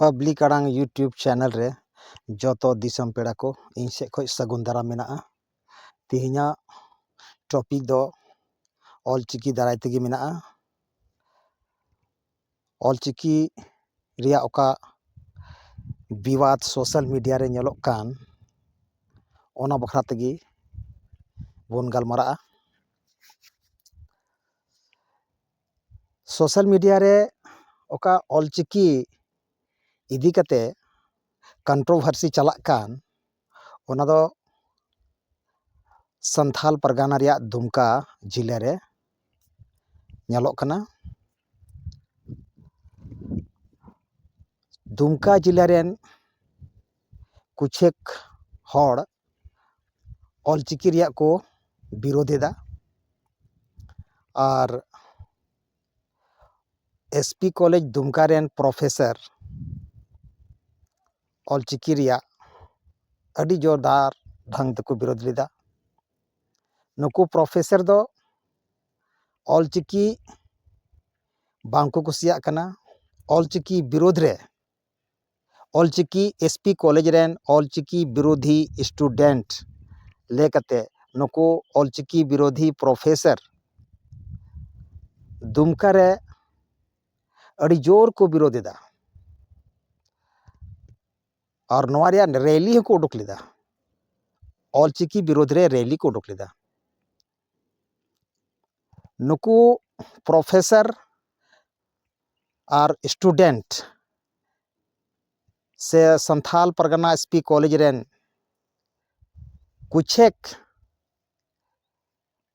public ᱟᱲᱟᱝ YouTube channel ᱨᱮ ᱡᱚᱛᱚ ᱫᱤᱥᱚᱢ ᱯᱮᱲᱟ ᱠᱚ ᱤᱧ ᱥᱮᱫ ᱠᱷᱚᱱ ᱥᱟᱹᱜᱩᱱ ᱫᱟᱨᱟᱢ ᱢᱮᱱᱟᱜᱼᱟ ᱛᱮᱦᱮᱧᱟᱜ ᱴᱚᱯᱤᱠ ᱫᱚ ᱚᱞᱪᱤᱠᱤ ᱫᱟᱨᱟᱭ ᱛᱮᱜᱮ ᱢᱮᱱᱟᱜᱼᱟ ᱚᱞ ᱪᱤᱠᱤ ᱨᱮᱭᱟᱜ ᱚᱠᱟ ᱵᱤᱵᱟᱫ ᱥᱳᱥᱟᱞ ᱢᱤᱰᱤᱭᱟ ᱨᱮ ᱧᱮᱞᱚᱜ ᱠᱟᱱ ᱚᱱᱟ ᱵᱟᱠᱷᱨᱟ ᱛᱮᱜᱮ ᱵᱚᱱ ᱜᱟᱞᱢᱟᱨᱟᱜᱼᱟ ᱥᱳᱥᱟᱞ ᱢᱤᱰᱤᱭᱟ ᱨᱮ ᱚᱠᱟ ᱚᱞ ᱪᱤᱠᱤ ᱤᱫᱤ ᱠᱟᱛᱮ ᱠᱚᱱᱴᱨᱳ ᱵᱷᱟᱨᱥᱤ ᱪᱟᱞᱟᱜ ᱠᱟᱱ ᱚᱱᱟ ᱫᱚ ᱥᱟᱱᱛᱷᱟᱞ ᱯᱟᱨᱜᱟᱱᱟ ᱨᱮᱭᱟᱜ ᱫᱩᱢᱠᱟ ᱡᱮᱞᱟ ᱨᱮ ᱧᱮᱞᱚᱜ ᱠᱟᱱᱟ ᱫᱩᱢᱠᱟ ᱡᱮᱞᱟ ᱨᱮᱱ ᱠᱤᱪᱷᱩᱠ ᱦᱚᱲ ᱚᱞ ᱪᱤᱠᱤ ᱨᱮᱭᱟᱜ ᱠᱚ ᱵᱤᱨᱳᱫᱷ ᱮᱫᱟ ᱟᱨ ᱮᱥ ᱯᱤ ᱠᱚᱞᱮᱡᱽ ᱫᱩᱢᱠᱟ ᱨᱮᱱ ᱯᱨᱚᱯᱷᱮᱥᱟᱨ ᱚᱞ ᱪᱤᱠᱤ ᱨᱮᱭᱟᱜ ᱟᱹᱰᱤ ᱡᱳᱨᱫᱟᱨ ᱰᱷᱚᱝ ᱛᱮᱠᱚ ᱵᱤᱨᱳᱫᱷ ᱞᱮᱫᱟ ᱱᱩᱠᱩ ᱯᱨᱚᱯᱷᱮᱥᱟᱨ ᱫᱚ ᱚᱞ ᱪᱤᱠᱤ ᱵᱟᱝᱠᱚ ᱠᱩᱥᱤᱭᱟᱜ ᱠᱟᱱᱟ ᱚᱞ ᱪᱤᱠᱤ ᱵᱤᱨᱳᱫᱷ ᱨᱮ Ol Chiki S P college ᱨᱮᱱ ᱚᱞ ᱪᱤᱠᱤ ᱵᱤᱨᱳᱫᱷᱤ ᱤᱥᱴᱩᱰᱮᱱᱴ ᱞᱟᱹᱭ ᱠᱟᱛᱮ ᱱᱩᱠᱩ ᱚᱞ ᱪᱤᱠᱤ ᱵᱤᱨᱳᱫᱷᱤ ᱯᱨᱚᱯᱷᱮᱥᱟᱨ ᱫᱩᱢᱠᱟ ᱨᱮ ᱟᱹᱰᱤ ᱡᱳᱨ ᱠᱚ ᱵᱤᱨᱳᱫᱷ ᱮᱫᱟ ᱟᱨ ᱱᱚᱣᱟ ᱨᱮᱭᱟᱜ ᱨᱮᱞᱤ ᱦᱚᱸᱠᱚ ᱩᱰᱩᱠ ᱞᱮᱫᱟ ᱚᱞ ᱪᱤᱠᱤ ᱵᱤᱨᱳᱫᱷ ᱨᱮ ᱨᱮᱞᱤ ᱠᱚ ᱩᱰᱩᱠ ᱞᱮᱫᱟ ᱱᱩᱠᱩ ᱯᱨᱚᱯᱷᱮᱥᱟᱨ ᱟᱨ ᱤᱥᱴᱩᱰᱮᱱᱴ ᱥᱮ Santhal Pargana S P college ᱨᱮᱱ ᱠᱚᱪᱮᱠ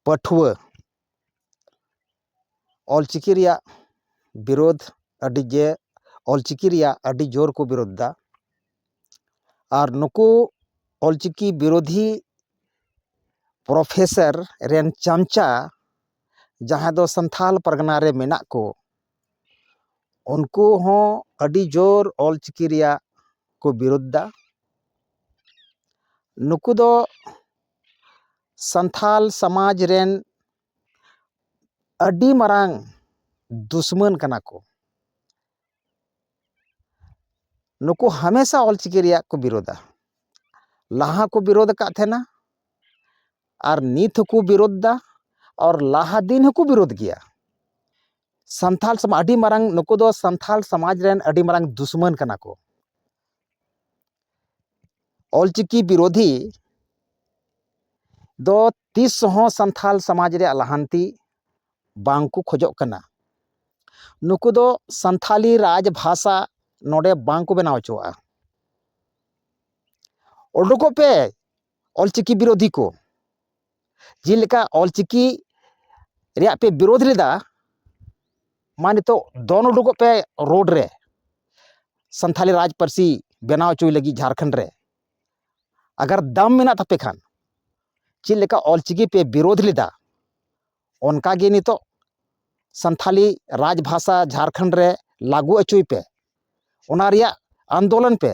ᱯᱟᱹᱴᱷᱩᱣᱟᱹ ᱚᱞ ᱪᱤᱠᱤ ᱨᱮᱭᱟᱜ ᱵᱤᱨᱳᱫ ᱟᱹᱰᱤ ᱜᱮ ᱚᱞ ᱪᱤᱠᱤ ᱨᱮᱭᱟᱜ ᱟᱹᱰᱤ ᱡᱳᱨ ᱠᱚ ᱵᱤᱨᱳᱫ ᱮᱫᱟ ᱟᱨ ᱱᱩᱠᱩ ᱚᱞ ᱪᱤᱠᱤ ᱵᱤᱨᱳᱫᱷᱤ ᱯᱨᱚᱯᱷᱮᱥᱟᱨ ᱨᱮᱱ ᱪᱟᱢᱪᱟ ᱡᱟᱦᱟᱸᱭ ᱫᱚ ᱥᱟᱱᱛᱷᱟᱞ ᱯᱟᱨᱜᱟᱱᱟ ᱨᱮ ᱢᱮᱱᱟᱜ ᱠᱚ ᱩᱱᱠᱩ ᱦᱚᱸ ᱟᱹᱰᱤ ᱡᱳᱨ ᱚᱞ ᱪᱤᱠᱤ ᱨᱮᱭᱟᱜ ᱠᱚ ᱵᱤᱨᱳᱫ ᱮᱫᱟ ᱱᱩᱠᱩ ᱫᱚ ᱥᱟᱱᱛᱷᱟᱞ ᱥᱚᱢᱟᱡᱽ ᱨᱮᱱ ᱟᱹᱰᱤ ᱢᱟᱨᱟᱝ ᱫᱩᱥᱢᱟᱹᱱ ᱠᱟᱱᱟ ᱠᱚ ᱱᱩᱠᱩ ᱦᱟᱢᱮᱥᱟ ᱚᱞ ᱪᱤᱠᱤ ᱨᱮᱭᱟᱜ ᱠᱚ ᱵᱤᱨᱳᱫᱟ ᱞᱟᱦᱟ ᱠᱚ ᱵᱤᱨᱳᱫ ᱟᱠᱟᱫ ᱛᱟᱦᱮᱱᱟ ᱟᱨ ᱱᱤᱛ ᱦᱚᱸᱠᱚ ᱵᱤᱨᱳᱫ ᱫᱟ ᱟᱨ ᱞᱟᱦᱟ ᱫᱤᱱ ᱦᱚᱸᱠᱚ ᱵᱤᱨᱳᱫ ᱜᱮᱭᱟ ᱥᱟᱱᱛᱟᱲ ᱥᱚᱢᱟᱡᱽ ᱟᱹᱰᱤ ᱢᱟᱨᱟᱝ ᱱᱩᱠᱩ ᱫᱚ ᱥᱟᱱᱛᱟᱲ ᱥᱚᱢᱟᱡᱽ ᱨᱮᱱ ᱟᱹᱰᱤ ᱢᱟᱨᱟᱝ ᱫᱩᱥᱢᱟᱹᱱ ᱠᱟᱱᱟ ᱠᱚ ᱚᱞᱪᱤᱠᱤ ᱵᱤᱨᱳᱫᱷᱤ ᱫᱚ ᱛᱤᱥ ᱦᱚᱸ ᱥᱟᱱᱛᱟᱲ ᱥᱚᱢᱟᱡᱽ ᱨᱮᱭᱟᱜ ᱞᱟᱦᱟᱱᱛᱤ ᱵᱟᱝ ᱠᱚ ᱠᱷᱚᱡᱚᱜ ᱠᱟᱱᱟ ᱱᱩᱠᱩ ᱫᱚ ᱥᱟᱱᱛᱟᱲᱤ ᱨᱟᱡᱽ ᱵᱷᱟᱥᱟ ᱱᱚᱰᱮ ᱵᱟᱝ ᱠᱚ ᱵᱮᱱᱟᱣ ᱦᱚᱪᱚᱣᱟᱜᱼᱟ ᱩᱰᱩᱠᱚᱜ ᱯᱮ ᱚᱞᱪᱤᱠᱤ ᱵᱤᱨᱳᱫᱷᱤ ᱠᱚ ᱡᱮᱞᱮᱠᱟ ᱚᱞᱪᱤᱠᱤ ᱨᱮᱭᱟᱜ ᱯᱮ ᱵᱤᱨᱳᱫᱷ ᱞᱮᱫᱟ ᱢᱟ ᱱᱤᱛᱚᱜ ᱫᱚᱱ ᱩᱰᱩᱠᱚᱜ ᱯᱮ ᱨᱳᱰ ᱨᱮ ᱥᱟᱱᱛᱟᱲᱤ ᱨᱟᱡᱽ ᱯᱟᱹᱨᱥᱤ ᱵᱮᱱᱟᱣ ᱦᱚᱪᱚᱭ ᱞᱟᱹᱜᱤᱫ ᱡᱷᱟᱲᱠᱷᱚᱸᱰ ᱨᱮ ᱟᱜᱟᱨ ᱫᱟᱢ ᱢᱮᱱᱟᱜ ᱛᱟᱯᱮ ᱠᱷᱟᱱ ᱪᱮᱫ ᱞᱮᱠᱟ ᱚᱞᱪᱤᱠᱤ ᱯᱮ ᱵᱤᱨᱳᱫᱷ ᱞᱮᱫᱟ ᱚᱱᱠᱟᱜᱮ ᱱᱤᱛᱚᱜ ᱥᱟᱱᱛᱷᱟᱞᱤ ᱨᱟᱡᱽ ᱵᱷᱟᱥᱟ ᱡᱷᱟᱲᱠᱷᱚᱸᱰ ᱨᱮ ᱞᱟᱹᱜᱩ ᱦᱚᱪᱚᱭ ᱯᱮ ᱚᱱᱟ ᱨᱮᱭᱟᱜ ᱟᱱᱫᱳᱞᱚᱱ ᱯᱮ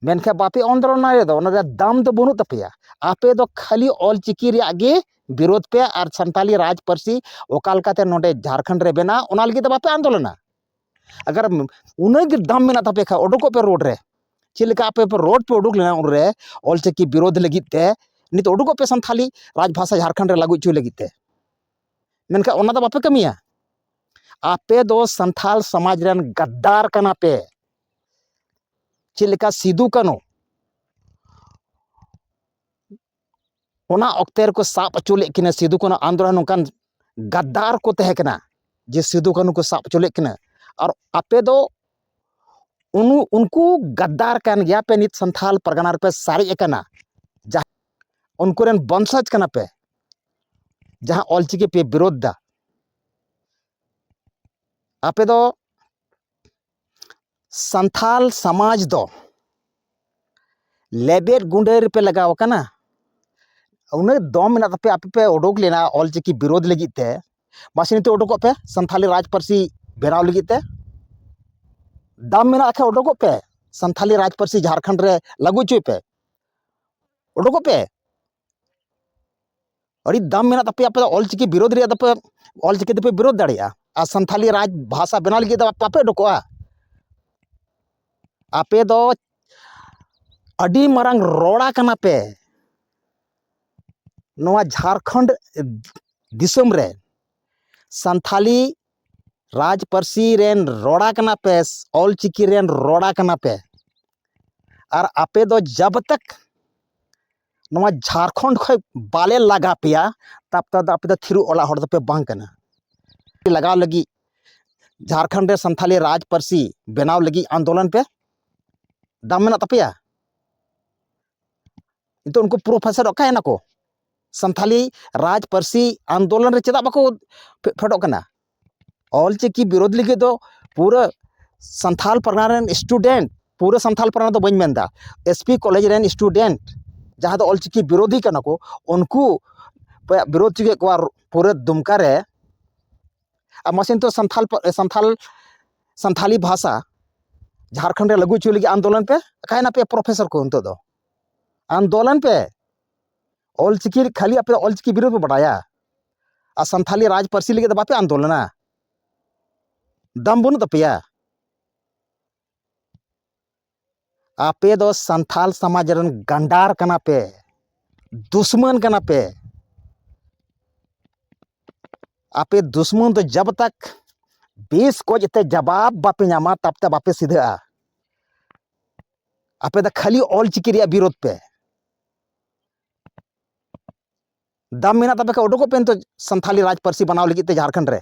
ᱢᱮᱱᱠᱷᱟᱱ ᱵᱟᱯᱮ ᱟᱱᱫᱳᱞᱚᱱᱟ ᱨᱮᱫᱚ ᱚᱱᱟ ᱨᱮᱭᱟᱜ ᱫᱟᱢ ᱫᱚ ᱵᱟᱹᱱᱩᱜ ᱛᱟᱯᱮᱭᱟ ᱟᱯᱮ ᱫᱚ ᱠᱷᱟᱹᱞᱤ ᱚᱞ ᱪᱤᱠᱤ ᱨᱮᱭᱟᱜ ᱜᱮ ᱵᱤᱨᱳᱫᱷ ᱯᱮ ᱟᱨ ᱥᱟᱱᱛᱟᱞᱤ ᱨᱟᱡᱽ ᱯᱟᱹᱨᱥᱤ ᱚᱠᱟ ᱞᱮᱠᱟᱛᱮ ᱱᱚᱰᱮ ᱡᱷᱟᱲᱠᱷᱚᱸᱰ ᱨᱮ ᱵᱮᱱᱟᱜ ᱚᱱᱟ ᱞᱟᱹᱜᱤᱫ ᱫᱚ ᱵᱟᱯᱮ ᱟᱱᱫᱳᱞᱚᱱᱟ ᱟᱜᱟᱨ ᱩᱱᱟᱹᱜ ᱜᱮ ᱫᱟᱢ ᱢᱮᱱᱟᱜ ᱛᱟᱯᱮ ᱠᱷᱟᱡ ᱩᱰᱩᱠᱚᱜ ᱯᱮ ᱨᱳᱰ ᱨᱮ ᱪᱮᱫ ᱞᱮᱠᱟ ᱟᱯᱮ ᱯᱮ ᱨᱳᱰ ᱯᱮ ᱩᱰᱩᱠ ᱞᱮᱱᱟ ᱩᱱᱨᱮ ᱚᱞ ᱪᱤᱠᱤ ᱵᱤᱨᱳᱫᱷ ᱞᱟᱹᱜᱤᱫ ᱛᱮ ᱱᱤᱛᱚᱜ ᱩᱰᱩᱠᱚᱜ ᱯᱮ ᱥᱟᱱᱛᱷᱟᱞᱤ ᱨᱟᱡᱽ ᱵᱷᱟᱥᱟ ᱡᱷᱟᱲᱠᱷᱚᱸᱰ ᱨᱮ ᱞᱟᱹᱜᱩ ᱦᱚᱪᱚᱭ ᱞᱟᱹᱜᱤᱫ ᱛᱮ ᱢᱮᱱᱠᱷᱟᱡ ᱚᱱᱟ ᱫᱚ ᱵᱟᱯᱮ ᱠᱟᱹᱢᱤᱭᱟ ᱟᱯᱮ ᱫᱚ ᱥᱟᱱᱛᱷᱟᱞ ᱥᱚᱢᱟᱡᱽ ᱨᱮᱱ ᱜᱟᱫᱽᱫᱟᱨ ᱠᱟᱱᱟ ᱯᱮ ᱪᱮᱫ ᱞᱮᱠᱟ ᱥᱤᱫᱩ ᱠᱟᱹᱱᱩ ᱚᱱᱟ ᱚᱠᱛᱮ ᱨᱮᱠᱚ ᱥᱟᱵ ᱦᱚᱪᱚ ᱞᱮᱫ ᱠᱤᱱᱟᱹ ᱥᱤᱫᱩ ᱠᱟᱹᱱᱦᱩ ᱟᱱᱫᱳᱞᱚᱱ ᱱᱚᱝᱠᱟᱱ ᱜᱟᱫᱽᱫᱟᱨ ᱠᱚ ᱛᱟᱦᱮᱸ ᱠᱟᱱᱟ ᱡᱮ ᱥᱤᱫᱩ ᱠᱟᱹᱱᱦᱩ ᱠᱚ ᱥᱟᱵ ᱦᱚᱪᱚ ᱞᱮᱫ ᱠᱤᱱᱟᱹ ᱟᱨ ᱟᱯᱮ ᱫᱚ ᱩᱱᱠᱩ ᱜᱟᱫᱽᱫᱟᱨ ᱠᱟᱱ ᱜᱮᱭᱟ ᱯᱮ ᱱᱤᱛ ᱥᱟᱱᱛᱟᱲ ᱯᱟᱨᱜᱟᱱᱟ ᱨᱮᱯᱮ ᱥᱟᱨᱮᱡ ᱟᱠᱟᱱᱟ ᱡᱟᱦᱟᱸ ᱩᱱᱠᱩ ᱨᱮᱱ ᱵᱚᱝᱥᱚᱡᱽ ᱠᱟᱱᱟ ᱯᱮ ᱡᱟᱦᱟᱸ ᱚᱞᱪᱤᱠᱤ ᱯᱮ ᱵᱤᱨᱳᱫᱷ ᱫᱟ ᱟᱯᱮ ᱫᱚ ᱥᱟᱱᱛᱟᱲ ᱥᱚᱢᱟᱡᱽ ᱫᱚ ᱞᱮᱵᱮᱫ ᱜᱩᱰᱟᱹ ᱨᱮᱯᱮ ᱞᱟᱜᱟᱣ ᱠᱟᱱᱟ ᱩᱱᱟᱹᱜ ᱫᱚᱢ ᱢᱮᱱᱟᱜ ᱛᱟᱯᱮᱭᱟ ᱟᱯᱮ ᱯᱮ ᱩᱰᱩᱠ ᱞᱮᱱᱟ ᱚᱞ ᱪᱤᱠᱤ ᱵᱤᱨᱳᱫᱷ ᱞᱟᱹᱜᱤᱫ ᱛᱮ ᱢᱟᱥᱮ ᱱᱤᱛᱚᱜ ᱩᱰᱩᱠᱚᱜ ᱯᱮ ᱥᱟᱱᱛᱟᱲᱤ ᱨᱟᱡᱽ ᱯᱟᱹᱨᱥᱤ ᱵᱮᱱᱟᱣ ᱞᱟᱹᱜᱤᱫ ᱛᱮ ᱫᱚᱢ ᱢᱮᱱᱟᱜ ᱠᱷᱟᱱ ᱩᱰᱩᱠᱚᱜ ᱯᱮ ᱥᱟᱱᱛᱟᱲᱤ ᱨᱟᱡᱽ ᱯᱟᱹᱨᱥᱤ ᱡᱷᱟᱲᱠᱷᱚᱸᱰ ᱨᱮ ᱞᱟᱹᱜᱩ ᱦᱚᱪᱚᱭ ᱯᱮ ᱩᱰᱩᱠᱚᱜ ᱯᱮ ᱟᱹᱰᱤ ᱫᱟᱢ ᱢᱮᱱᱟᱜ ᱛᱟᱯᱮᱭᱟ ᱟᱯᱮ ᱫᱚ ᱚᱞᱪᱤᱠᱤ ᱵᱤᱨᱳᱫᱷ ᱨᱮᱭᱟᱜ ᱫᱚᱯᱮ ᱚᱞᱪᱤᱠᱤ ᱫᱚᱯᱮ ᱵᱤᱨᱳᱫᱷ ᱫᱟᱲᱮᱭᱟᱜᱼᱟ ᱟᱨ ᱥᱟᱱᱛᱷᱟᱞᱤ ᱨᱟᱡᱽ ᱵᱷᱟᱥᱟ ᱵᱮᱱᱟᱣ ᱞᱟᱹᱜᱤᱫ ᱫᱚ ᱵᱟᱯᱮ ᱩᱰᱩᱠᱚᱜᱼᱟ ᱟᱯᱮ ᱫᱚ ᱟᱹᱰᱤ ᱢᱟᱨᱟᱝ ᱨᱚᱲᱟ ᱠᱟᱱᱟ ᱯᱮ ᱱᱚᱣᱟ ᱡᱷᱟᱲᱠᱷᱚᱸᱰ ᱫᱤᱥᱚᱢ ᱨᱮ ᱥᱟᱱᱛᱷᱟᱞᱤ ᱨᱟᱡᱽ ᱯᱟᱹᱨᱥᱤ ᱨᱮᱱ ᱨᱚᱲᱟ ᱠᱟᱱᱟ ᱯᱮ ᱚᱞᱪᱤᱠᱤ ᱨᱮᱱ ᱨᱚᱲᱟ ᱠᱟᱱᱟ ᱯᱮ ᱟᱨ ᱟᱯᱮ ᱫᱚ ᱡᱟᱵᱽ ᱛᱚᱠ ᱱᱚᱣᱟ ᱡᱷᱟᱲᱠᱷᱚᱸᱰ ᱠᱷᱚᱱ ᱵᱟᱞᱮ ᱞᱟᱜᱟ ᱯᱮᱭᱟ ᱛᱟᱯᱚᱨ ᱫᱚ ᱟᱯᱮ ᱫᱚ ᱛᱷᱤᱨᱩ ᱚᱲᱟᱜ ᱦᱚᱲ ᱫᱚᱯᱮ ᱵᱟᱝ ᱠᱟᱱᱟ ᱞᱟᱜᱟᱣ ᱞᱟᱹᱜᱤᱫ ᱡᱷᱟᱲᱠᱷᱚᱸᱰ ᱨᱮ ᱥᱟᱱᱛᱷᱟᱞᱤ ᱨᱟᱡᱽ ᱯᱟᱹᱨᱥᱤ ᱵᱮᱱᱟᱣ ᱞᱟᱹᱜᱤᱫ ᱟᱱᱫᱳᱞᱚᱱ ᱯᱮ ᱫᱟᱢ ᱢᱮᱱᱟᱜ ᱛᱟᱯᱮᱭᱟ ᱱᱤᱛᱚᱜ ᱩᱱᱠᱩ ᱯᱨᱚᱯᱷᱮᱥᱚᱨ ᱚᱠᱟᱭᱮᱱᱟ ᱠᱚ ᱥᱟᱱᱛᱷᱟᱞᱤ ᱨᱟᱡᱽ ᱯᱟᱹᱨᱥᱤ ᱟᱱᱫᱳᱞᱚᱱ ᱨᱮ ᱪᱮᱫᱟᱜ ᱵᱟᱠᱚ ᱯᱷᱮᱰᱚᱜ ᱠᱟᱱᱟ ᱚᱞ ᱪᱤᱠᱤ ᱵᱤᱨᱳᱫᱷ ᱞᱟᱹᱜᱤᱫ ᱫᱚ ᱯᱩᱨᱟᱹ ᱥᱟᱱᱛᱷᱟᱞ ᱯᱟᱨᱜᱟᱱᱟ ᱨᱮᱱ ᱤᱥᱴᱩᱰᱮᱱᱴ ᱯᱩᱨᱟᱹ ᱥᱟᱱᱛᱷᱟᱞ ᱯᱟᱨᱜᱟᱱᱟ ᱫᱚ ᱵᱟᱹᱧ ᱢᱮᱱᱫᱟ ᱮᱥ ᱯᱤ ᱠᱚᱞᱮᱡᱽ ᱨᱮᱱ ᱤᱥᱴᱩᱰᱮᱱᱴ ᱡᱟᱦᱟᱸ ᱫᱚ ᱚᱞ ᱪᱤᱠᱤ ᱵᱤᱨᱳᱫᱷᱤ ᱠᱟᱱᱟ ᱠᱚ ᱩᱱᱠᱩ ᱚᱠᱚᱭᱟᱜ ᱵᱤᱨᱳᱫᱷ ᱦᱚᱪᱚ ᱠᱮᱜ ᱠᱚᱣᱟ ᱯᱩᱨᱟᱹ ᱫᱩᱢᱠᱟ ᱨᱮ ᱟᱨ ᱢᱟᱥᱮ ᱱᱤᱛᱚᱜ ᱥᱟᱱᱛᱷᱟᱞ ᱥᱟᱱᱛᱷᱟᱞ ᱥᱟᱱᱛᱷᱟᱞᱤ ᱵᱷᱟᱥᱟ ᱡᱷᱟᱲᱠᱷᱚᱸᱰ ᱨᱮ ᱞᱟᱹᱜᱩ ᱦᱚᱪᱚᱭ ᱞᱟᱹᱜᱤᱫ ᱟᱱᱫᱳᱞᱚᱱ ᱯᱮ ᱚᱠᱟᱭᱱᱟᱯᱮ ᱯᱨᱚᱯᱷᱮᱥᱚᱨ ᱠᱚ ᱱᱤᱛᱚᱜ ᱫᱚ ᱟᱱᱫᱳᱞᱚᱱ ᱯᱮ ᱚᱞ ᱪᱤᱠᱤ ᱠᱷᱟᱹᱞᱤ ᱟᱯᱮ ᱚᱞ ᱪᱤᱠᱤ ᱵᱤᱨᱩᱫᱷ ᱯᱮ ᱵᱟᱰᱟᱭᱟ ᱟᱨ ᱥᱟᱱᱛᱷᱟᱞᱤ ᱨᱟᱡᱽ ᱯᱟᱹᱨᱥᱤ ᱞᱟᱹᱜᱤᱫ ᱫᱚ ᱵᱟᱯᱮ ᱟᱱᱫᱳᱞᱚᱱᱟ ᱫᱚᱢ ᱵᱟᱹᱱᱩᱜ ᱛᱟᱯᱮᱭᱟ ᱟᱯᱮ ᱫᱚ ᱥᱟᱱᱛᱷᱟᱞ ᱥᱚᱢᱟᱡᱽ ᱨᱮᱱ ᱜᱟᱱᱰᱟᱨ ᱠᱟᱱᱟ ᱯᱮ ᱫᱩᱥᱢᱟᱹᱱ ᱠᱟᱱᱟ ᱯᱮ ᱟᱯᱮ ᱫᱩᱥᱢᱟᱹᱱ ᱫᱚ ᱡᱟᱵ ᱛᱟᱠ ᱵᱮᱥ ᱠᱚᱡ ᱛᱮ ᱡᱟᱵᱟᱵ ᱵᱟᱯᱮ ᱧᱟᱢᱟ ᱛᱟᱵ ᱛᱮ ᱵᱟᱯᱮ ᱥᱤᱫᱷᱟᱹᱜᱼᱟ ᱟᱯᱮ ᱫᱚ ᱠᱷᱟᱹᱞᱤ ᱚᱞ ᱪᱤᱠᱤ ᱨᱮᱭᱟᱜ ᱵᱤᱨᱳᱫᱷ ᱯᱮ ᱫᱟᱢ ᱢᱮᱱᱟᱜ ᱛᱟᱯᱮ ᱠᱷᱟᱱ ᱩᱰᱩᱠᱚᱜ ᱯᱮ ᱱᱤᱛᱚᱜ ᱥᱟᱱᱛᱷᱟᱞᱤ ᱨᱟᱡᱽ ᱯᱟᱹᱨᱥᱤ ᱵᱮᱱᱟᱣ ᱞᱟᱹᱜᱤᱫ ᱛᱮ ᱡᱷᱟᱲᱠᱷᱚᱸᱰ ᱨᱮ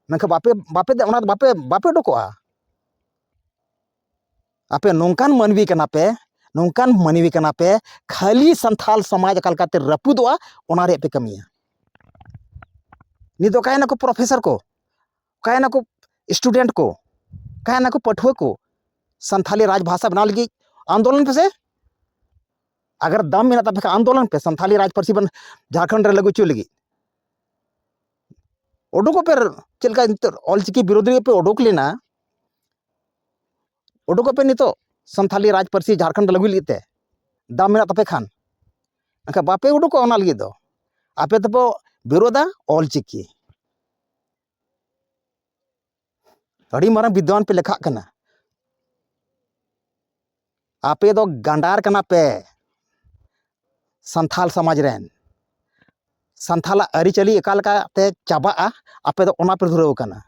ᱢᱮᱱᱠᱷᱟᱱ ᱵᱟᱯᱮ ᱵᱟᱯᱮ ᱚᱱᱟ ᱫᱚ ᱵᱟᱯᱮ ᱵᱟᱯᱮ ᱩᱰᱩᱠᱚᱜᱼᱟ ᱟᱯᱮ ᱱᱚᱝᱠᱟᱱ ᱢᱟᱹᱱᱢᱤ ᱠᱟᱱᱟ ᱯᱮ ᱱᱚᱝᱠᱟᱱ ᱢᱟᱹᱱᱢᱤ ᱠᱟᱱᱟ ᱯᱮ ᱠᱷᱟᱹᱞᱤ ᱥᱟᱱᱛᱷᱟᱞ ᱥᱚᱢᱟᱡᱽ ᱚᱠᱟ ᱞᱮᱠᱟᱛᱮ ᱨᱟᱹᱯᱩᱫᱚᱜᱼᱟ ᱚᱱᱟ ᱨᱮᱭᱟᱜ ᱯᱮ ᱠᱟᱹᱢᱤᱭᱟ ᱱᱤᱛ ᱫᱚ ᱚᱠᱟᱭᱮᱱᱟᱠᱚ ᱯᱨᱚᱯᱷᱮᱥᱚᱨ ᱠᱚ ᱚᱠᱟᱭᱮᱱᱟᱠᱚ ᱥᱴᱩᱰᱮᱱᱴ ᱠᱚ ᱚᱠᱟᱭᱮᱱᱟᱠᱚ ᱯᱟᱹᱴᱷᱩᱣᱟᱹ ᱠᱚ ᱥᱟᱱᱛᱷᱟᱞᱤ ᱨᱟᱡᱽ ᱵᱷᱟᱥᱟ ᱵᱮᱱᱟᱣ ᱞᱟᱹᱜᱤᱫ ᱟᱱᱫᱳᱞᱚᱱ ᱯᱮᱥᱮ ᱟᱜᱟᱨ ᱫᱟᱢ ᱢᱮᱱᱟᱜ ᱛᱟᱯᱮ ᱠᱷᱟᱱ ᱟᱱᱫᱳᱞᱚᱱ ᱯᱮ ᱥᱟᱱᱛᱷᱟᱞᱤ ᱨᱟᱡᱽ ᱯᱟᱹᱨᱥᱤ ᱵᱚᱱ ᱡᱷᱟᱲᱠᱷᱚᱸᱰ ᱨᱮ ᱞᱟᱹᱜᱩ ᱦᱚᱪᱚᱭ ᱞᱟᱹᱜᱤᱫ ᱩᱰᱩᱠᱚᱜ ᱯᱮ ᱪᱮᱫ ᱞᱮᱠᱟ ᱱᱤᱛᱚᱜ ᱚᱞᱪᱤᱠᱤ ᱵᱤᱨᱳᱫᱷᱤ ᱯᱮ ᱩᱰᱩᱠ ᱞᱮᱱᱟ ᱩᱰᱩᱠᱚᱜ ᱯᱮ ᱱᱤᱛᱚᱜ ᱥᱟᱱᱛᱷᱟᱞᱤ ᱨᱟᱡᱽ ᱯᱟᱹᱨᱥᱤ ᱡᱷᱟᱲᱠᱷᱚᱸᱰ ᱨᱮ ᱞᱟᱹᱜᱩᱭ ᱞᱟᱹᱜᱤᱫ ᱛᱮ ᱫᱟᱢ ᱢᱮᱱᱟᱜ ᱛᱟᱯᱮ ᱠᱷᱟᱱ ᱮᱱᱠᱷᱟᱱ ᱵᱟᱯᱮ ᱩᱰᱩᱠᱚᱜᱼᱟ ᱚᱱᱟ ᱞᱟᱹᱜᱤᱫ ᱫᱚ ᱟᱯᱮ ᱫᱚᱯᱮ ᱵᱤᱨᱳᱫᱟ ᱚᱞᱪᱤᱠᱤ ᱟᱹᱰᱤ ᱢᱟᱨᱟᱝ ᱵᱤᱫᱽᱣᱟᱱ ᱯᱮ ᱞᱮᱠᱷᱟᱜ ᱠᱟᱱᱟ ᱟᱯᱮ ᱫᱚ ᱜᱟᱸᱰᱟᱨ ᱠᱟᱱᱟ ᱯᱮ ᱥᱟᱱᱛᱷᱟᱞ ᱥᱚᱢᱟᱡᱽ ᱨᱮᱱ ᱥᱟᱱᱛᱷᱟᱞᱟᱜ ᱟᱹᱨᱤᱪᱟᱹᱞᱤ ᱚᱠᱟ ᱞᱮᱠᱟᱛᱮ ᱪᱟᱵᱟᱜᱼᱟ ᱟᱯᱮ ᱫᱚ ᱚᱱᱟ ᱯᱮ ᱫᱷᱩᱨᱟᱹᱣ ᱠᱟᱱᱟ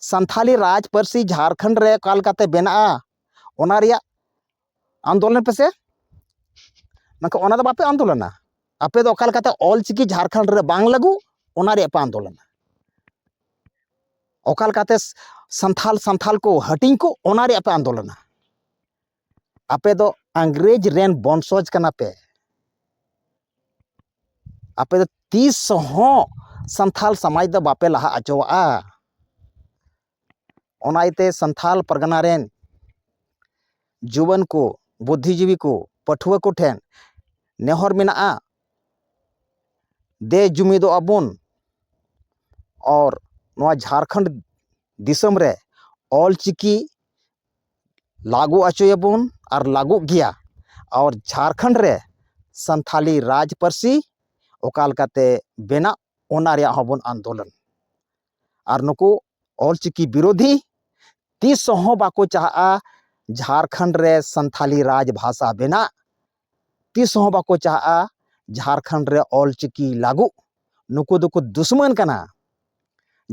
ᱥᱟᱱᱛᱷᱟᱞᱤ ᱨᱟᱡᱽ ᱯᱟᱹᱨᱥᱤ ᱡᱷᱟᱲᱠᱷᱚᱸᱰ ᱨᱮ ᱚᱠᱟ ᱞᱮᱠᱟᱛᱮ ᱵᱮᱱᱟᱜᱼᱟ ᱚᱱᱟ ᱨᱮᱭᱟᱜ ᱟᱱᱫᱳᱞᱚᱱ ᱯᱮᱥᱮ ᱢᱮᱱᱠᱷᱟᱱ ᱚᱱᱟ ᱫᱚ ᱵᱟᱯᱮ ᱟᱱᱫᱳᱞᱚᱱᱟ ᱟᱯᱮ ᱫᱚ ᱚᱠᱟ ᱞᱮᱠᱟᱛᱮ ᱚᱞᱪᱤᱠᱤ ᱡᱷᱟᱲᱠᱷᱚᱸᱰ ᱨᱮ ᱵᱟᱝ ᱞᱟᱹᱜᱩ ᱚᱱᱟ ᱨᱮᱭᱟᱜ ᱯᱮ ᱟᱱᱫᱳᱞᱚᱱᱟ ᱚᱠᱟ ᱞᱮᱠᱟᱛᱮ ᱥᱟᱱᱛᱷᱟᱞ ᱥᱟᱱᱛᱷᱟᱞ ᱠᱚ ᱦᱟᱹᱴᱤᱧ ᱠᱚ ᱚᱱᱟ ᱨᱮᱭᱟᱜ ᱯᱮ ᱟᱱᱫᱳᱞᱚᱱᱟ ᱟᱯᱮ ᱫᱚ ᱤᱝᱨᱮᱡᱽ ᱨᱮᱱ ᱵᱚᱝᱥᱚᱡᱽ ᱠᱟᱱᱟ ᱯᱮ ᱟᱯᱮ ᱫᱚ ᱛᱤᱥ ᱦᱚᱸ ᱥᱟᱱᱛᱷᱟᱞ ᱥᱚᱢᱟᱡᱽ ᱫᱚ ᱵᱟᱯᱮ ᱞᱟᱦᱟ ᱦᱚᱪᱚᱣᱟᱜᱼᱟ ᱚᱱᱟ ᱤᱭᱟᱹᱛᱮ ᱥᱟᱱᱛᱟᱲ ᱯᱟᱨᱜᱟᱱᱟ ᱨᱮᱱ ᱡᱩᱣᱟᱹᱱ ᱠᱚ ᱵᱩᱫᱽᱫᱷᱤ ᱡᱤᱵᱤ ᱠᱚ ᱯᱟᱹᱴᱷᱩᱣᱟᱹ ᱠᱚᱴᱷᱮᱱ ᱱᱮᱦᱚᱨ ᱢᱮᱱᱟᱜᱼᱟ ᱫᱮ ᱡᱩᱢᱤᱫᱚᱜᱼᱟ ᱵᱚᱱ ᱟᱨ ᱱᱚᱣᱟ ᱡᱷᱟᱲᱠᱷᱚᱸᱰ ᱫᱤᱥᱚᱢ ᱨᱮ ᱚᱞ ᱪᱤᱠᱤ ᱞᱟᱹᱜᱩ ᱦᱚᱪᱚᱭᱟᱵᱚᱱ ᱟᱨ ᱞᱟᱹᱜᱩᱜ ᱜᱮᱭᱟ ᱟᱨ ᱡᱷᱟᱲᱠᱷᱚᱸᱰ ᱨᱮ ᱥᱟᱱᱛᱟᱲᱤ ᱨᱟᱡᱽ ᱯᱟᱹᱨᱥᱤ ᱚᱠᱟ ᱞᱮᱠᱟᱛᱮ ᱵᱮᱱᱟᱜ ᱚᱱᱟ ᱨᱮᱭᱟᱜ ᱦᱚᱸᱵᱚᱱ ᱟᱱᱫᱳᱞᱚᱱ ᱟᱨ ᱱᱩᱠᱩ ᱚᱞᱪᱤᱠᱤ ᱵᱤᱨᱳᱫᱷᱤ ᱛᱤᱥ ᱦᱚᱸ ᱵᱟᱠᱚ ᱪᱟᱦᱟᱜᱼᱟ ᱡᱷᱟᱲᱠᱷᱚᱸᱰ ᱨᱮ ᱥᱟᱱᱛᱷᱟᱞᱤ ᱨᱟᱡᱽ ᱵᱷᱟᱥᱟ ᱵᱮᱱᱟᱜ ᱛᱤᱥ ᱦᱚᱸ ᱵᱟᱠᱚ ᱪᱟᱦᱟᱜᱼᱟ ᱡᱷᱟᱲᱠᱷᱚᱸᱰ ᱨᱮ ᱚᱞᱪᱤᱠᱤ ᱞᱟᱹᱜᱩᱜ ᱱᱩᱠᱩ ᱫᱚᱠᱚ ᱫᱩᱥᱢᱟᱹᱱ ᱠᱟᱱᱟ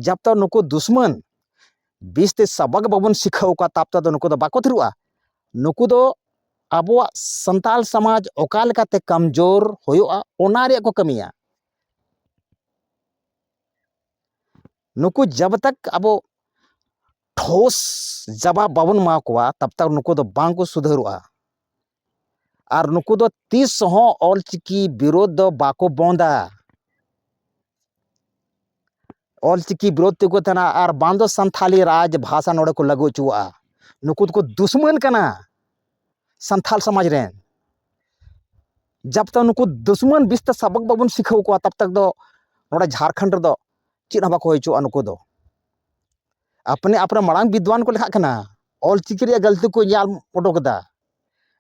ᱡᱟᱵ ᱛᱚᱠ ᱱᱩᱠᱩ ᱫᱩᱥᱢᱟᱹᱱ ᱵᱤᱥ ᱛᱮ ᱥᱟᱵᱟᱠ ᱵᱟᱵᱚᱱ ᱥᱤᱠᱷᱟᱹᱣ ᱠᱚᱣᱟ ᱛᱟᱵ ᱛᱮᱫᱚ ᱱᱩᱠᱩ ᱫᱚ ᱵᱟᱠᱚ ᱛᱷᱤᱨᱚᱜᱼᱟ ᱱᱩᱠᱩ ᱫᱚ ᱟᱵᱚᱣᱟᱜ ᱥᱟᱱᱛᱟᱲ ᱥᱚᱢᱟᱡᱽ ᱚᱠᱟ ᱞᱮᱠᱟᱛᱮ ᱠᱚᱢᱡᱳᱨ ᱦᱩᱭᱩᱜᱼᱟ ᱚᱱᱟ ᱨᱮᱭᱟᱜ ᱠᱚ ᱠᱟᱹᱢᱤᱭᱟ ᱱᱩᱠᱩ ᱡᱟᱵᱽ ᱛᱟᱠ ᱟᱵᱚ ᱴᱷᱳᱥ ᱡᱟᱵᱟᱵ ᱵᱟᱵᱚᱱ ᱮᱢᱟ ᱠᱚᱣᱟ ᱛᱟᱵᱽ ᱛᱟᱠ ᱱᱩᱠᱩ ᱫᱚ ᱵᱟᱝ ᱠᱚ ᱥᱩᱫᱷᱟᱹᱨᱚᱜᱼᱟ ᱟᱨ ᱱᱩᱠᱩ ᱫᱚ ᱛᱤᱥ ᱦᱚᱸ ᱚᱞ ᱪᱤᱠᱤ ᱵᱤᱨᱳᱫᱷ ᱫᱚ ᱵᱟᱠᱚ ᱵᱚᱱᱫᱟ ᱚᱞ ᱪᱤᱠᱤ ᱵᱤᱨᱳᱫᱷ ᱛᱮᱠᱚ ᱛᱟᱦᱮᱱᱟ ᱟᱨ ᱵᱟᱝ ᱫᱚ ᱥᱟᱱᱛᱷᱟᱞᱤ ᱨᱟᱡᱽ ᱵᱷᱟᱥᱟ ᱱᱚᱰᱮ ᱠᱚ ᱞᱟᱹᱜᱩ ᱦᱚᱪᱚᱣᱟᱜᱼᱟ ᱱᱩᱠᱩ ᱫᱚᱠᱚ ᱫᱩᱥᱢᱟᱹᱱ ᱠᱟᱱᱟ ᱥᱟᱱᱛᱷᱟᱞ ᱥᱚᱢᱟᱡᱽ ᱨᱮᱱ ᱡᱟᱵ ᱛᱟᱠ ᱱᱩᱠᱩ ᱫᱩᱥᱢᱚᱱ ᱵᱤᱥ ᱛᱮ ᱥᱟᱵᱚᱠ ᱵᱟᱵᱚᱱ ᱥᱤᱠᱷᱟᱹᱣ ᱠᱚᱣᱟ ᱛᱟᱵ ᱛᱟᱠ ᱫᱚ ᱱᱚᱰᱮ ᱡᱷᱟᱲᱠᱷᱚᱸᱰ ᱨᱮᱫᱚ ᱪᱮᱫ ᱦᱚᱸ ᱵᱟᱠᱚ ᱦᱩᱭ ᱦᱚᱪᱚᱣᱟᱜᱼᱟ ᱱᱩᱠᱩ ᱫᱚ ᱟᱯᱱᱮ ᱟᱯᱱᱮ ᱢᱟᱲᱟᱝ ᱵᱤᱫᱽᱣᱟᱱ ᱠᱚ ᱞᱮᱠᱷᱟᱜ ᱠᱟᱱᱟ ᱚᱞ ᱪᱤᱠᱤ ᱨᱮᱭᱟᱜ ᱜᱟᱹᱞᱛᱤ ᱠᱚ ᱧᱮᱞ ᱩᱰᱩᱠ ᱮᱫᱟ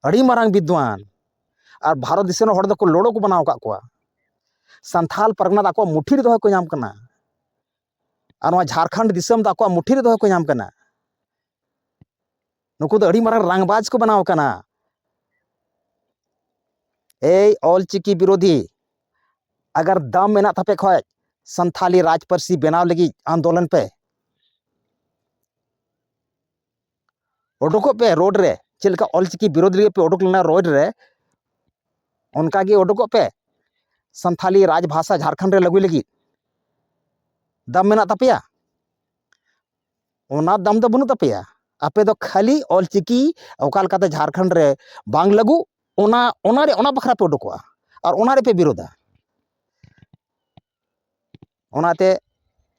ᱟᱹᱰᱤ ᱢᱟᱨᱟᱝ ᱵᱤᱫᱽᱣᱟᱱ ᱟᱨ ᱵᱷᱟᱨᱚᱛ ᱫᱤᱥᱚᱢ ᱨᱮᱱ ᱦᱚᱲ ᱫᱚᱠᱚ ᱞᱚᱲᱚ ᱠᱚ ᱵᱮᱱᱟᱣ ᱟᱠᱟᱫ ᱠᱚᱣᱟ ᱥᱟᱱᱛᱷᱟᱞ ᱯᱟᱨᱜᱟᱱᱟ ᱫᱚ ᱟᱠᱚᱣᱟᱜ ᱢᱩᱴᱷᱤ ᱨᱮ ᱫᱚᱦᱚ ᱠᱚ ᱧᱟᱢ ᱠᱟᱱᱟ ᱟᱨ ᱱᱚᱣᱟ ᱡᱷᱟᱲᱠᱷᱚᱸᱰ ᱫᱤᱥᱚᱢ ᱫᱚ ᱟᱠᱚᱣᱟᱜ ᱢᱩᱴᱷᱤ ᱨᱮ ᱫᱚᱦᱚ ᱠᱚ ᱧᱟᱢ ᱠᱟᱱᱟ ᱱᱩᱠᱩ ᱫᱚ ᱟᱹᱰᱤ ᱢᱟᱨᱟᱝ ᱨᱟᱝᱵᱟᱡᱽ ᱠᱚ ᱵᱮᱱᱟᱣ ᱠᱟᱱᱟ ᱮᱭ ᱚᱞ ᱪᱤᱠᱤ ᱵᱤᱨᱳᱫᱷᱤ ᱟᱜᱟᱨ ᱫᱟᱢ ᱢᱮᱱᱟᱜ ᱛᱟᱯᱮ ᱠᱷᱚᱡ ᱥᱟᱱᱛᱷᱟᱞᱤ ᱨᱟᱡᱽ ᱯᱟᱹᱨᱥᱤ ᱵᱮᱱᱟᱣ ᱞᱟᱹᱜᱤᱫ ᱟᱱᱫᱳᱞᱚᱱ ᱯᱮ ᱚᱰᱚᱠᱚᱜ ᱯᱮ ᱨᱳᱰ ᱨᱮ ᱪᱮᱫ ᱞᱮᱠᱟ ᱚᱞ ᱪᱤᱠᱤ ᱵᱤᱨᱳᱫᱷ ᱞᱟᱹᱜᱤᱫ ᱯᱮ ᱚᱰᱚᱠ ᱞᱮᱱᱟ ᱨᱳᱰ ᱨᱮ ᱚᱱᱠᱟ ᱜᱮ ᱚᱰᱚᱠᱚᱜ ᱯᱮ ᱥᱟᱱᱛᱷᱟᱞᱤ ᱨᱟᱡᱽ ᱵᱷᱟᱥᱟ ᱡᱷᱟᱲᱠᱷᱚᱸᱰ ᱨᱮ ᱞᱟᱹᱜᱩᱭ ᱞᱟᱹᱜᱤᱫ ᱫᱟᱢ ᱢᱮᱱᱟᱜ ᱛᱟᱯᱮᱭᱟ ᱚᱱᱟ ᱫᱟᱢ ᱫᱚ ᱵᱟᱹᱱᱩᱜ ᱛᱟᱯᱮᱭᱟ ᱟᱯᱮ ᱫᱚ ᱠᱷᱟᱹᱞᱤ ᱚᱞ ᱪᱤᱠᱤ ᱚᱠᱟ ᱞᱮᱠᱟᱛᱮ ᱡᱷᱟᱲᱠᱷᱚᱸᱰ ᱨᱮ ᱵᱟᱝ ᱞᱟᱹᱜᱩ ᱚᱱᱟ ᱚᱱᱟᱨᱮ ᱚᱱᱟ ᱵᱟᱠᱷᱨᱟ ᱯᱮ ᱚᱰᱚᱠᱚᱜᱼᱟ ᱟᱨ ᱚᱱᱟ ᱨᱮᱯᱮ ᱵᱤᱨᱳᱫᱷᱟ ᱚᱱᱟᱛᱮ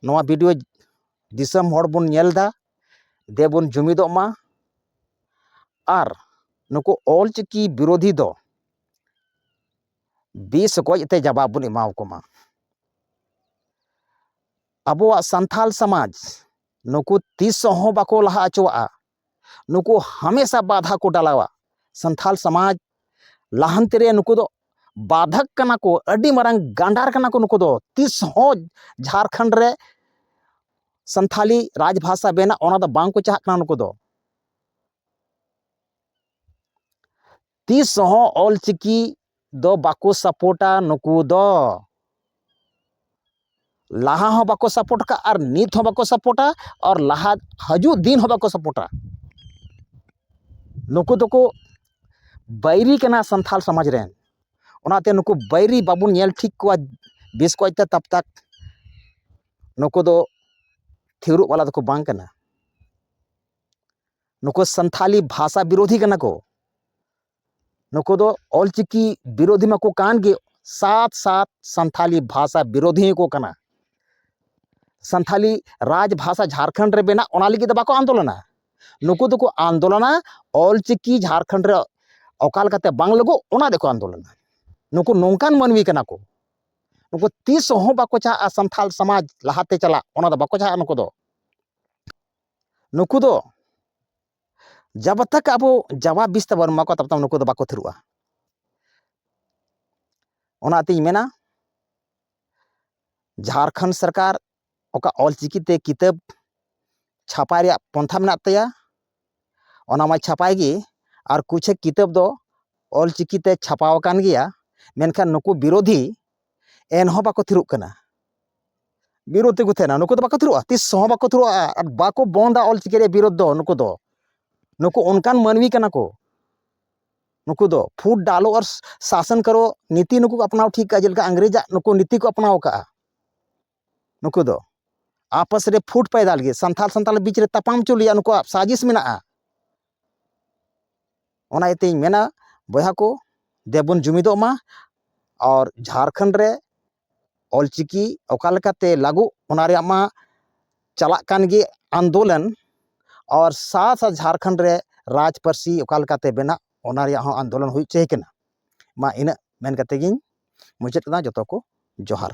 ᱱᱚᱣᱟ ᱵᱷᱤᱰᱭᱳ ᱫᱤᱥᱚᱢ ᱦᱚᱲ ᱵᱚᱱ ᱧᱮᱞ ᱮᱫᱟ ᱫᱮᱵᱚᱱ ᱡᱩᱢᱤᱫᱚᱜ ᱢᱟ ᱟᱨ ᱱᱩᱠᱩ ᱚᱞ ᱪᱤᱠᱤ ᱵᱤᱨᱳᱫᱷᱤ ᱫᱚ ᱵᱤᱥ ᱜᱚᱡ ᱛᱮ ᱡᱟᱵᱟᱵ ᱵᱚᱱ ᱮᱢᱟᱣ ᱠᱚᱢᱟ ᱟᱵᱚᱣᱟᱜ ᱥᱟᱱᱛᱷᱟᱞ ᱥᱚᱢᱟᱡᱽ ᱱᱩᱠᱩ ᱛᱤᱥ ᱦᱚᱸ ᱵᱟᱠᱚ ᱞᱟᱦᱟ ᱦᱚᱪᱚᱣᱟᱜᱼᱟ ᱱᱩᱠᱩ ᱦᱟᱢᱮᱥᱟ ᱵᱟᱫᱷᱟ ᱠᱚ ᱰᱟᱞᱟᱣᱟ ᱥᱟᱱᱛᱷᱟᱞ ᱥᱚᱢᱟᱡᱽ ᱞᱟᱦᱟᱱᱛᱤ ᱨᱮ ᱱᱩᱠᱩ ᱫᱚ ᱵᱟᱫᱷᱚᱠ ᱠᱟᱱᱟ ᱠᱚ ᱟᱹᱰᱤ ᱢᱟᱨᱟᱝ ᱜᱟᱸᱰᱟᱨ ᱠᱟᱱᱟ ᱠᱚ ᱱᱩᱠᱩ ᱫᱚ ᱛᱤᱥ ᱦᱚᱸ ᱡᱷᱟᱲᱠᱷᱚᱸᱰ ᱨᱮ ᱥᱟᱱᱛᱷᱟᱞᱤ ᱨᱟᱡᱽ ᱵᱷᱟᱥᱟ ᱵᱮᱱᱟᱜ ᱚᱱᱟ ᱫᱚ ᱵᱟᱝ ᱠᱚ ᱪᱟᱦᱟᱜ ᱠᱟᱱᱟ ᱱᱩᱠᱩ ᱫᱚ ᱛᱤᱥ ᱦᱚᱸ ᱚᱞ ᱪᱤᱠᱤ ᱫᱚ ᱵᱟᱠᱚ ᱥᱟᱯᱳᱨᱴᱟ ᱱᱩᱠᱩ ᱫᱚ ᱞᱟᱦᱟ ᱦᱚᱸ ᱵᱟᱠᱚ ᱥᱟᱯᱳᱨᱴ ᱟᱠᱟᱫ ᱟᱨ ᱱᱤᱛ ᱦᱚᱸ ᱵᱟᱠᱚ ᱥᱟᱯᱳᱨᱴᱟ ᱟᱨ ᱞᱟᱦᱟ ᱦᱤᱡᱩᱜ ᱫᱤᱱ ᱦᱚᱸ ᱵᱟᱠᱚ ᱥᱟᱯᱳᱨᱴᱟ ᱱᱩᱠᱩ ᱫᱚᱠᱚ ᱵᱟᱹᱭᱨᱤ ᱠᱟᱱᱟ ᱥᱟᱱᱛᱟᱲ ᱥᱚᱢᱟᱡᱽ ᱨᱮᱱ ᱚᱱᱟᱛᱮ ᱱᱩᱠᱩ ᱵᱟᱹᱭᱨᱤ ᱵᱟᱵᱚᱱ ᱧᱮᱞ ᱴᱷᱤᱠ ᱠᱚᱣᱟ ᱵᱮᱥ ᱠᱚᱡᱛᱮ ᱛᱟᱵ ᱛᱟᱠ ᱱᱩᱠᱩ ᱫᱚ ᱛᱷᱤᱨᱚᱜ ᱵᱟᱞᱟ ᱫᱚᱠᱚ ᱵᱟᱝ ᱠᱟᱱᱟ ᱱᱩᱠᱩ ᱥᱟᱱᱛᱷᱟᱞᱤ ᱵᱷᱟᱥᱟ ᱵᱤᱨᱳᱫᱷᱤ ᱠᱟᱱᱟ ᱠᱚ ᱱᱩᱠᱩ ᱫᱚ ᱚᱞᱪᱤᱠᱤ ᱵᱤᱨᱳᱫᱷᱤ ᱢᱟᱠᱚ ᱠᱟᱱ ᱜᱮ ᱥᱟᱛ ᱥᱟᱛ ᱥᱟᱱᱛᱷᱟᱞᱤ ᱵᱷᱟᱥᱟ ᱵᱤᱨᱳᱫᱷᱤ ᱦᱚᱸᱠᱚ ᱠᱟᱱᱟ ᱥᱟᱱᱛᱷᱟᱞᱤ ᱨᱟᱡᱽ ᱵᱷᱟᱥᱟ ᱡᱷᱟᱲᱠᱷᱚᱸᱰ ᱨᱮ ᱵᱮᱱᱟᱜ ᱚᱱᱟ ᱞᱟᱹᱜᱤᱫ ᱫᱚ ᱵᱟᱠᱚ ᱟᱱᱫᱳᱞᱚᱱᱟ ᱱᱩᱠᱩ ᱫᱚᱠᱚ ᱟᱱᱫᱳᱞᱚᱱᱟ ᱚᱞᱪᱤᱠᱤ ᱡᱷᱟᱲᱠᱷᱚᱸᱰ ᱨᱮ ᱚᱠᱟ ᱞᱮᱠᱟᱛᱮ ᱵᱟᱝ ᱞᱟᱹᱜᱩᱜ ᱚᱱᱟ ᱫᱚᱠᱚ ᱟᱱᱫᱳᱞᱚᱱᱟ ᱱᱩᱠᱩ ᱱᱚᱝᱠᱟᱱ ᱢᱟᱹᱱᱢᱤ ᱠᱟᱱᱟ ᱠᱚ ᱱᱩᱠᱩ ᱛᱤᱥ ᱦᱚᱸ ᱵᱟᱠᱚ ᱪᱟᱦᱟᱜᱼᱟ ᱥᱟᱱᱛᱷᱟᱞ ᱥᱚᱢᱟᱡᱽ ᱞᱟᱦᱟᱛᱮ ᱪᱟᱞᱟᱜ ᱚᱱᱟ ᱫᱚ ᱵᱟᱠᱚ ᱪᱟᱦᱟᱜᱼᱟ ᱱᱩᱠᱩ ᱫᱚ ᱱᱩᱠᱩ ᱫᱚ ᱡᱟᱵᱟ ᱛᱟᱠ ᱟᱵᱚ ᱡᱟᱵᱟ ᱵᱤᱥ ᱛᱟᱵᱚᱱ ᱮᱢᱟ ᱠᱚᱣᱟ ᱛᱟᱵᱚᱛᱟᱢ ᱱᱩᱠᱩ ᱫᱚ ᱵᱟᱠᱚ ᱛᱷᱤᱨᱚᱜᱼᱟ ᱚᱱᱟᱛᱤᱧ ᱢᱮᱱᱟ ᱡᱷᱟᱲᱠᱷᱚᱸᱰ ᱥᱚᱨᱠᱟᱨ ᱚᱠᱟ ᱚᱞᱪᱤᱠᱤᱛᱮ ᱠᱤᱛᱟᱹᱵ ᱪᱷᱟᱯᱟᱭ ᱨᱮᱭᱟᱜ ᱯᱚᱱᱛᱷᱟ ᱢᱮᱱᱟᱜ ᱛᱟᱭᱟ ᱚᱱᱟ ᱢᱟᱭ ᱪᱷᱟᱯᱟᱭ ᱜᱮ ᱟᱨ ᱠᱩᱪᱷᱮᱠ ᱠᱤᱛᱟᱹᱵ ᱫᱚ ᱚᱞᱪᱤᱠᱤᱛᱮ ᱪᱷᱟᱯᱟᱣ ᱟᱠᱟᱱ ᱜᱮᱭᱟ ᱢᱮᱱᱠᱷᱟᱱ ᱱᱩᱠᱩ ᱵᱤᱨᱳᱫᱷᱤ ᱮᱱᱦᱚᱸ ᱵᱟᱠᱚ ᱛᱷᱤᱨᱚᱜ ᱠᱟᱱᱟ ᱵᱤᱨᱳᱫᱷ ᱛᱮᱠᱚ ᱛᱟᱦᱮᱱᱟ ᱱᱩᱠᱩ ᱫᱚ ᱵᱟᱠᱚ ᱛᱷᱤᱨᱚᱜᱼᱟ ᱛᱤᱥ ᱦᱚᱸ ᱵᱟᱠᱚ ᱛᱷᱤᱨᱚᱜᱼᱟ ᱟᱨ ᱵᱟᱠᱚ ᱵᱚᱱᱫᱟ ᱚᱞᱪᱤᱠᱤ ᱨᱮ ᱵᱤᱨᱳᱫᱷ ᱫᱚ ᱱᱩᱠᱩ ᱫᱚ ᱱᱩᱠᱩ ᱚᱱᱠᱟᱱ ᱢᱟᱹᱱᱢᱤ ᱠᱟᱱᱟ ᱠᱚ ᱱᱩᱠᱩ ᱫᱚ ᱯᱷᱩᱰ ᱰᱟᱞᱳ ᱟᱨ ᱥᱟᱥᱚᱱ ᱠᱟᱨᱚ ᱱᱤᱛᱤ ᱱᱩᱠᱩ ᱠᱚ ᱟᱯᱱᱟᱣ ᱴᱷᱤᱠ ᱠᱟᱜᱼᱟ ᱡᱮᱞᱮᱠᱟ ᱤᱝᱨᱮᱡᱽ ᱟᱜ ᱱᱩᱠᱩ ᱱᱤᱛᱤ ᱠᱚ ᱟᱯᱱᱟᱣ ᱠᱟᱜᱼᱟ ᱱᱩᱠᱩ ᱫᱚ ᱟᱯᱟᱥ ᱨᱮ ᱯᱷᱩᱴ ᱯᱟᱭᱫᱟ ᱞᱟᱹᱜᱤᱫ ᱥᱟᱱᱛᱟᱲ ᱥᱟᱱᱛᱟᱲ ᱵᱤᱪ ᱨᱮ ᱛᱟᱯᱟᱢ ᱦᱚᱪᱚ ᱞᱟᱹᱜᱤᱫ ᱱᱩᱠᱩᱣᱟᱜ ᱥᱟᱡᱤᱥ ᱢᱮᱱᱟᱜᱼᱟ ᱚᱱᱟ ᱤᱭᱟᱹᱛᱮᱧ ᱢᱮᱱᱟ ᱵᱚᱭᱦᱟ ᱠᱚ ᱫᱮ ᱵᱚᱱ ᱡᱩᱢᱤᱫᱚᱜ ᱢᱟ ᱟᱨ ᱡᱷᱟᱲᱠᱷᱚᱸᱰ ᱨᱮ ᱚᱞᱪᱤᱠᱤ ᱚᱠᱟ ᱞᱮᱠᱟᱛᱮ ᱞᱟᱹᱜᱩᱜ ᱚᱱᱟ ᱨᱮᱭᱟᱜ ᱢᱟ ᱪᱟᱞᱟᱜ ᱠᱟᱱ ᱜᱮ ᱟᱱᱫᱳᱞᱚᱱ ᱟᱨ ᱥᱟᱛ ᱥᱟᱛ ᱡᱷᱟᱲᱠᱷᱚᱸᱰ ᱨᱮ ᱨᱟᱡᱽ ᱯᱟᱹᱨᱥᱤ ᱚᱠᱟ ᱞᱮᱠᱟᱛᱮ ᱵᱮᱱᱟᱜ ᱚᱱᱟ ᱨᱮᱭᱟᱜ ᱦᱚᱸ ᱟᱱᱫᱳᱞᱚᱱ ᱦᱩᱭ ᱦᱚᱪᱚᱭᱮ ᱠᱟᱱᱟ ᱢᱟ ᱤᱱᱟᱹᱜ ᱢᱮᱱ ᱠᱟᱛᱮ ᱜᱤᱧ ᱢᱩᱪᱟᱹᱫ ᱠᱮᱫᱟ ᱡᱚᱛᱚ ᱠᱚ ᱡᱚᱦᱟᱨ